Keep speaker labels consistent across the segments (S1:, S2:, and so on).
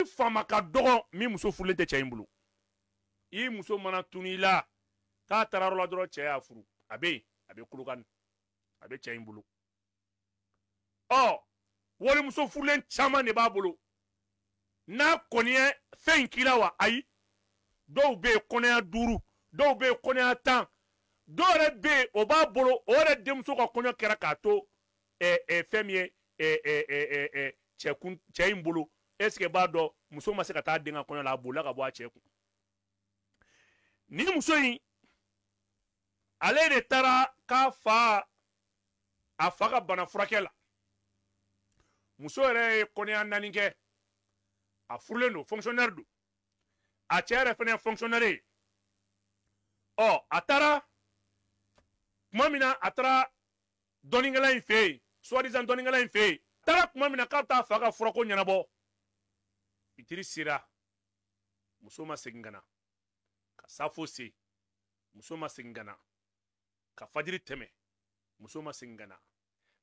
S1: i faama ka dɔgɔn min muso furulen tɛ cɛ in bolo i muso mana tunu i la k'a taara yɔrɔ la dɔrɔn cɛ y'a furu a bɛ yen a bɛ kolokani a bɛ cɛ in bolo ɔ walimuso furulen caman de b'a bolo n'a kɔni ye fɛn in k'i la wa ayi dɔw bɛ yen kɔnɔya duuru dɔw bɛ yen kɔnɔya tan dɔw yɛrɛ bɛ yen o b'a bolo o yɛrɛ denmuso ka kɔɲɔ kɛra k'a to fɛn min ye cɛ in bolo est ce que b'a dɔn muso ma se ka taa den ka kɔɲɔ la a bolila ka bɔ a cɛ kun nin muso in ale de taara k'a fa a fa ka bana furakɛ la muso yɛrɛ ye kɔnɔya naani kɛ a furulen don fonctionnaire don a cɛ yɛrɛ fana ye fonctionnaire ye ɔ a taara tuma min na a taara dɔnnikɛla in fɛ yen soi disant dɔnnikɛla in fɛ yen a taara tuma min na k'a bɛ taa a fa ka furako ɲɛnabɔ fitiri sera muso ma segin ka na ka safo se muso ma segin ka na ka fajiri tɛmɛ muso ma segin ka na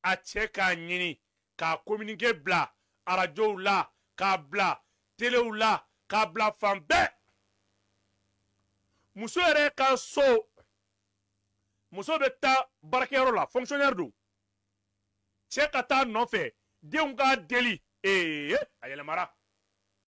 S1: a cɛ k'a ɲini k'a kominike bila arajow la k'a bila telew la k'a bila fan bɛɛ muso yɛrɛ ka so muso bɛ taa baarakɛyɔrɔ la fonctionnaire don cɛ ka taa a nɔfɛ denw k'a deli ee a yɛlɛmara